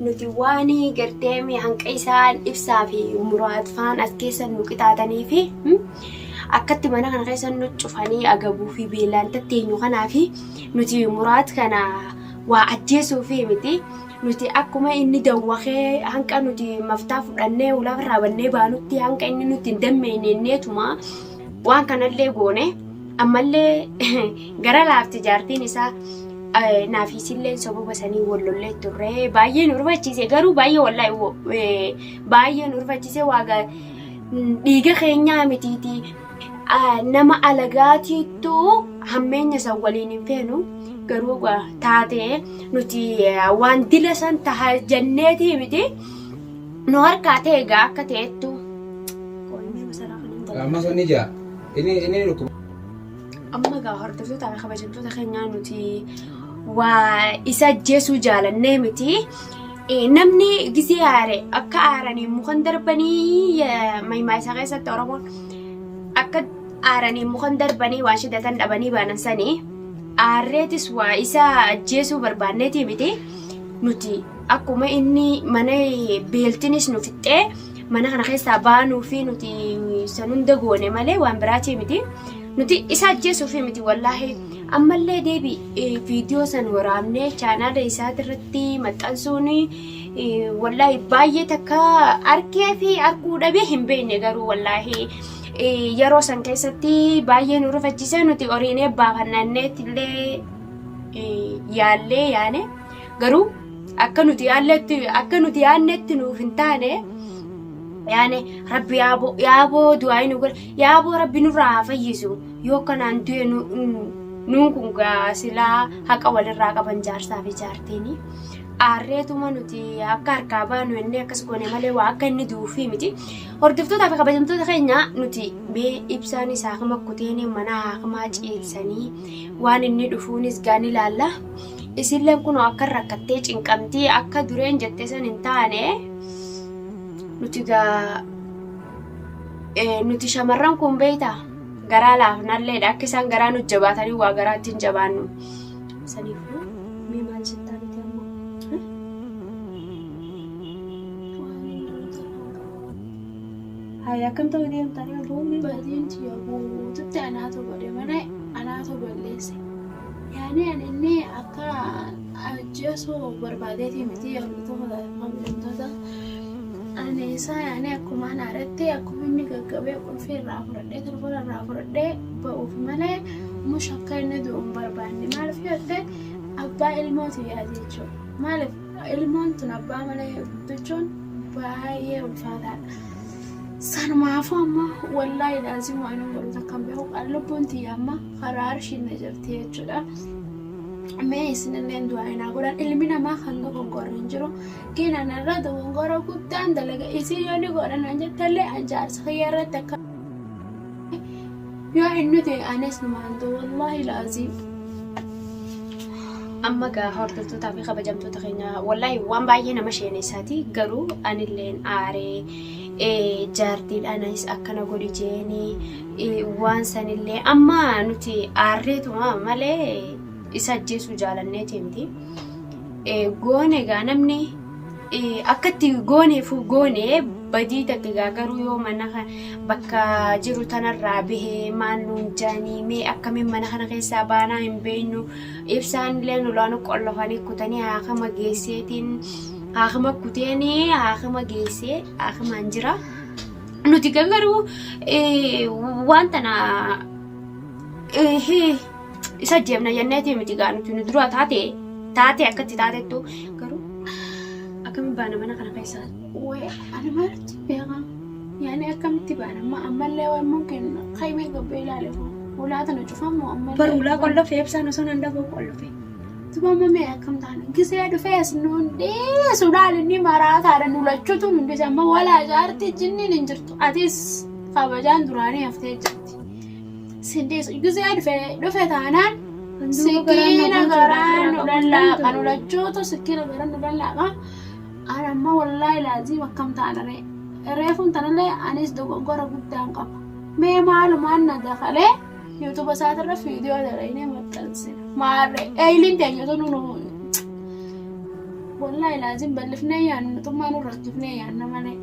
Nuti waan gartee mee hanqa isaan ibsaa fi muraat faan as keessa nu qixaatanii fi akkatti mana kana keessa nu cufanii agabuu fi beelaan tatteenyu kanaa fi nuti muraat kana waa ajjeesuu fi miti nuti akkuma inni dawwakee hanqa nuti maftaa fudhannee ulaa irraa bannee baanutti hanqa inni nuti hin dammeeyneetuma waan kanallee goone ammallee Gara laafti jaartiin isaa naafi isilleen sababa sanii wal lollee turre baay'ee nu rifachiise garuu baay'ee wallaahi baay'ee nu rifachiise waaga dhiiga keenyaa mitiiti nama alagaatiittu hammeenya san waliin hin feenu garuu taatee nuti waan dila san taha janneetii miti nu harkaa ta'e egaa akka ta'ettu. Amma sun ni jaa. Inni inni dhukkuba. Amma egaa hordoftoota fi kabajamtoota keenyaa nuti waa isa ajjeesuu jaalannee miti. Eh, Namni gisee aare akka aaranii mukan darbanii eh, mahimaa isaa keessatti Oromoon akka aaranii mukan darbanii waan shiddatan dhabanii baanan sanii aarreetis waa isa ajjeesuu barbaanneetii miti. Nuti akkuma inni mana eh, beeltinis nu fixxee mana kana keessaa baanuu fi nuti san hunda goone malee waan biraatii miti. Nuti isa ajjeesuuf miti wallaahi. Ammallee deebi viidiyoo san waraabnee chaanaala isaati irratti maxxansuun wallaahi baay'ee takka arkee fi arkuu dhabee hin beekne garuu wallaahi. Yeroo san keessatti baay'ee nu rifachiisee nuti horiinee baafannanneetti illee yaallee yaane. Garuu akka nuti yaannetti akka nuti yaannetti nuuf hin taane yaane rabbi yaaboo yaaboo du'aa nu godhe yaaboo rabbi nurraa haa fayyisu yoo kanaan du'e nu nuun kun gaa silaa haqa walirraa qaban jaarsaa fi jaartiini. Aarreetuma nuti akka harkaa baanu inni akkas goone malee waa akka inni du'uufii miti. Hordoftootaa fi kabajamtoota keenya nuti mee ibsaanis haakima kuteenii mana haakimaa ciilsanii waan inni dhufuunis gaa ni laalla. Isiilleen kunoo akkan rakkattee cinqamtii akka dureen jette san hin taane nuti gaa nuti shamarran kun beeyta garaa laafnalleedha akka isaan garaa nu jabaatanii waa garaatti hin jabaannu saniifuu mee maal jettaa nuti amma Hai akkam ta'uu deemtanii aboo mee Badeen tiyya guututti anaatu godhe malee anaatu balleesse. Yaani ani inni akka ajjeesu barbaadeetii miti yaadota mu'mintoota. Ani isaa yaani akkuma ana irratti akkuma inni gaggabee qulfii irraa fudhadhee telefoona irraa fudhadhee ba'uuf malee mush akka inni du'u hin barbaanne maaliif yoo ta'e abbaa ilmootu yaade jechuudha. Maaliif ilmoon tun abbaa malee guddachuun baay'ee ulfaataadha. Sanumaafuu amma wallaahi laazimu ani godhu takka hin beeku lubbuun tiyya amma. karaa arshiin na jirti jechuudha. Mee isinilleen du'aa naa godhan ilmi namaa kan dogongorri hin jiru. Keenan irra dogongora guddaan dalaga isii yoo ni godhan an jettallee an jaarsa kiyya irratti akka yoo inni ta'e anis numaan ta'u wallaahi laaziim. Amma gaa hordoftootaa fi kabajamtoota keenya wallaahi waan baay'ee nama sheeneessaati garuu anilleen aaree jaartiidhaanis akkana godhi jeeni waan sanillee amma nuti aarreetuma malee isa ajjeesuu jaalanneeti miti. Goone egaa namni akkatti gooneef goone badii takka egaa garuu yoo mana bakka jiru tanarraa bahee maal nuun jaanii mee akkamiin mana kana keessaa baanaa hin beeknu ibsaan illee nulaanu qollofanii kutanii haakama geesseetiin haakama kuteenii haakama geessee haakamaan jira. Nuti kan garuu waan tana isa jeemna jenneeti miti gaa nuti nu dura taate taate akkatti taatettu garuu akkamitti baana mana kana keessaa. Wee ani maaltu beekaa yaani akkamitti baana amma ammallee waammoo kenna kaimee gobbee ilaale ulaa tana cufamoo ammallee. Barulaa qollofee ibsaan osoo nan dhaboo qollofee. Tumamame akkam taane gisee dhufee as nu hundeessuudhaan inni maraataadha nu lachuutu nu hundise amma walaa jaarti jinniin hin jirtu atis kabajaan duraanii haftee jirti. Sindeessu gisee dhufee dhufe taanaan sikiina garaa nu lallaaqa nu lachuutu sikiina garaa nu lallaaqa. An amma wallaahi laaziim akkam taana ree reefuun tanallee anis dogoggora guddaan qaba. Mee maalumaan na dakalee. Yuutuuba isaatirra viidiyoo dalagnee maxxansina. Maarre eeyiliin teenya tun nu wallahi laazim bal'ifnee yaanna nutummaa nu rakkifnee yaanna malee.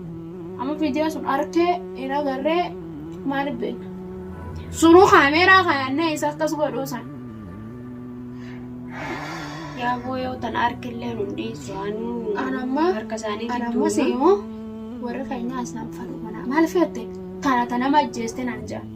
Amma viidiyoo sun arkee hin agarree maaliif beekna? Sunuu kaameeraa kaayannee isa akkas godhuu san. Yaa boo yoo tan arkillee nun dhiisu anuu An amma harka isaanii an amma gidduu. seemoo warra keenyaa isaan fadhu kana maal feette? Tana tana nama ajjeeste naan jedhan.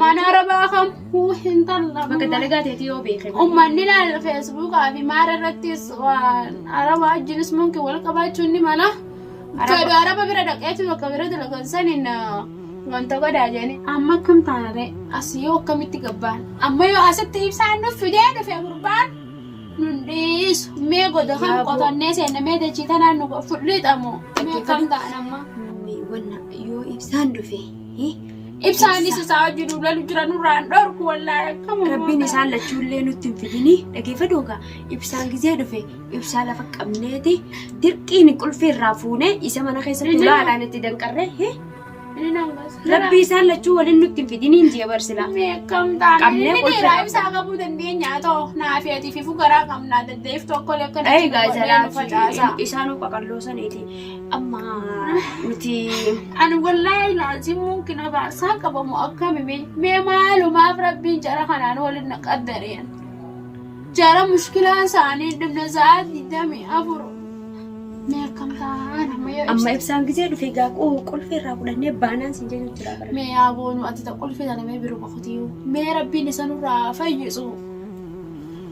Mana rabaa kam huu hin talla. Bakka dalagaa teetii yoo beekee. Ummanni laal feesbuukaa fi maara irrattis waan araba wajjinis munki wal qabaachuun ni mala. Jedhu araba bira dhaqeetu bakka bira dalagan saniin wanta godhaa jedhanii. Amma akkam taanaree as yoo akkamitti gabbaan amma yoo asitti ibsaan nuuf fidee dhufe gurbaan nun dhiisu mee goda kan Yaaboo. qotannee seenne mee dachii tanaan nu fudhiixamu mee akkam ta'an amma. Wanna yoo ibsaan dhufe Ibsaanis isaa hojii duulalu jira nurraan dhorku wallaahi akkam Rabbiin isaan lachuullee nutti hin fidini dhageeffadhu egaa ibsaan gizee dhufe ibsaa lafa qabneeti dirqiin qulfii irraa fuunee isa mana keessatti Inni- ulaalaan itti danqarree hee Inni nama gosa. rabbi isaan lachuu waliin nutti hin fidini hin jee barsilaa Meeqam taane Qabnee inni qulfii- dhiiraa ibsaa qabuu dandeenya haa ta'u naaf ati fi fugaraa qabnaa daddeef tokko lekkana. egaa jalaa isaan qaqalloo saniiti Amma nuti ani wallaahi laazim mumkin abaarsaa qabamu akkami mee mee maalumaaf rabbiin jara kanaan waliin na qaddareen jara mushkilaan isaanii dhibna sa'aa digdamii afur mee akkam ta'aa nama yoo Amma ibsa ibsaan gisee dhufe egaa qu- qulfii irraa fudhannee baanaan siin jedhu jira bara. mee yaa boonu ati ta qulfii tana mee biruma kutiyuu mee rabbiin isa nurraa fayyisu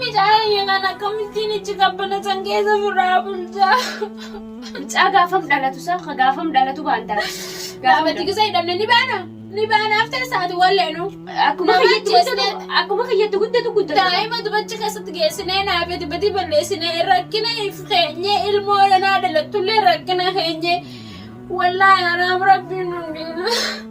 Midhaan ayyaanaan akkamittiin ichi qabbana san keessa furraa bulchaa. Mucaa gaafam dhalatu isaa ka gaafam dhalatu baantaa. Gaafatti gisa hidhanne ni baana. Ni baana haftee isaati walleenu. Akkuma Nama kiyyatti ajjeesne. guddatu akkuma kiyyatti guddatu guddatu. Daa'ima dubachi keessatti geessinee naaf dubatii balleessinee rakkina if keenyee ilmoo dhanaa dhalattullee rakkina keenyee. Wallaahi araam rabbiin nu hin dhiisu.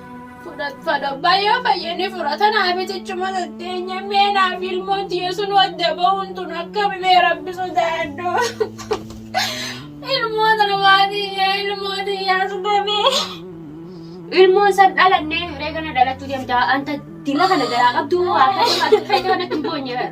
fudhatfadha bayo fayyani fudhatana abitichuma dandeenya mee naaf ilmoon tiyesun wadda bahuun tun akkami mee rabbi sodaadhu ilmoo tana maatiiyya ilmoo tiyyaa sudamee ilmoon san dhalanne hiree kana dhalachuu deemta anta dila kana garaa qabdu moo akka fayyada kanatti hin boonye bara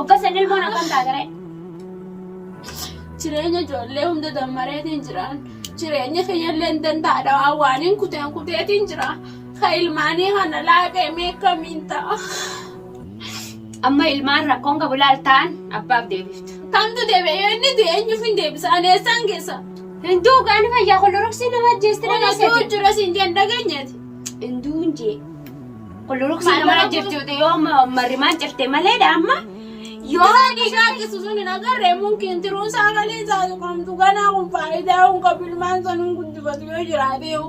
Obbaseen ilmoon akkam taateree? Jireenya ijoollee hunda dammareetiin jiraan. Jireenya kiyyalleen danda'a dhawaa waaniin kuteen kuteetiin jira. Ka ilmaanii kana laaqee mee akkamiin ta'a? Amma ilmaan rakkoon qabu laaltaan abbaaf deebifta. Kamtu deebi'e yoo inni du'e eenyuuf hin deebisa? Ani eessaan geessa? Hinduu qaani fayyaa koloroksii nama ajjeesti Wanatu dhageessati. jira siin jeen dhageenyeeti. Hinduun jee. Kulluruksi nama jirtuuti yoo marrimaan cirte malee daamma yoo dhiigaa gisu sun hin agarre mumkin tiruu sagalee isaa tuqamtu ganaa kun faayidaa kun qabilmaan sun hin guddifatu yoo jiraate yoo